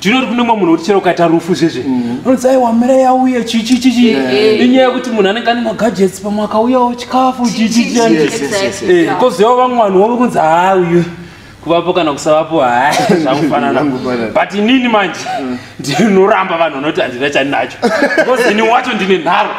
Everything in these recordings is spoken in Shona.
tinoti kune mumwe munhu kuti chero ukaita rufu zvezve mm. unonzi aiwa mira yauya chichichichi inyaya yekuti munhu anenge ane magadgets pamwe akauyawo chikafu chichichikozouyawo vamwe vanhu wove kunzi haa uyu kuvapo kana kusavapo haa zvakufanana but inini manje mm. ndinoramba vanhu vanoti handina chandinacho because ini wacho ndine nharo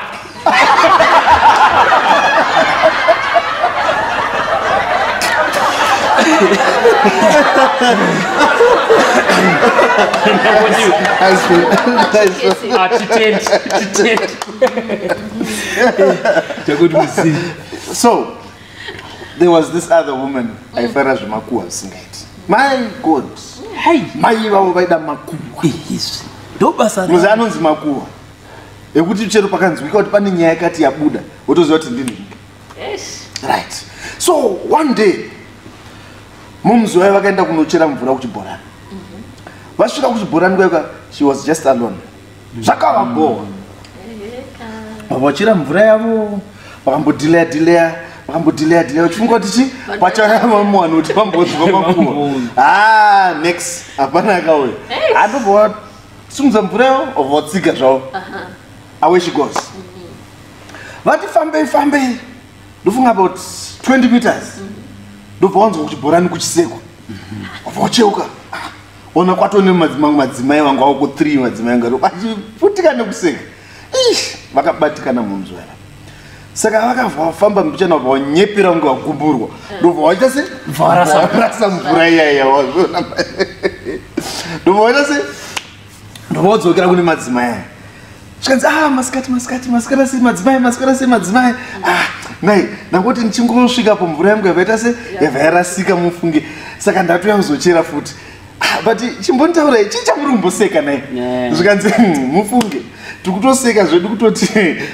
so there was this other woman mm. aifara zvemakuwa zvisingaiti my god mai ivavo vaida makuwa ndobasa muzi anonzi makuwa ekuti chero pakanzwika kuti pane nyaya yakati yabuda wotoziva kuti ndini right so one day momzi wayo vakaenda kunochera mvura kuchibhorani mhm. vasvika kuchibhorani kwaika she was just alone zvakavabhowa vachira mvura yavo vakambodileya dileya vakambodileya dileya uchifunga kuti chi pachayavamwana kuti vamboziva makuwa ha ah, next hapana akauya andobhowa simudza mvura yavo obva votsika zvavo away she goes vati fambei fambei ndofunga about 20 meters ndobva wanzwa kuchibhorani kuchisekwa obva ucheuka ona kwatone mamwe madzimai vanga wako three madzimai anga vachiputika nekuseka ish vakabatikana munzwera saka vakafamba mbichana vabva vanyepera kunge vaguburwa ndobva vaita se varasa mvura iyaiya wazviona ndobva vaita se ndobva vadzokera kune madzimai aya zvikanzi ah masikati masikati masikati asi madzimai masikati asi madzimai ah nai ndangoti ndichingosvika pomvura yangu yavaita se yavayarasika mufunge saka ndatoya kuzochera futi Ah, but chimbonditaurai chii chamuri kumboseka naye Yeah. zvikanzi "Hmm, mufunge tikutoseka zvedu kutoti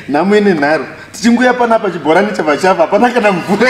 nhamo ine nharo tichinguya panapa chibhorani chava chava hapana kana mvura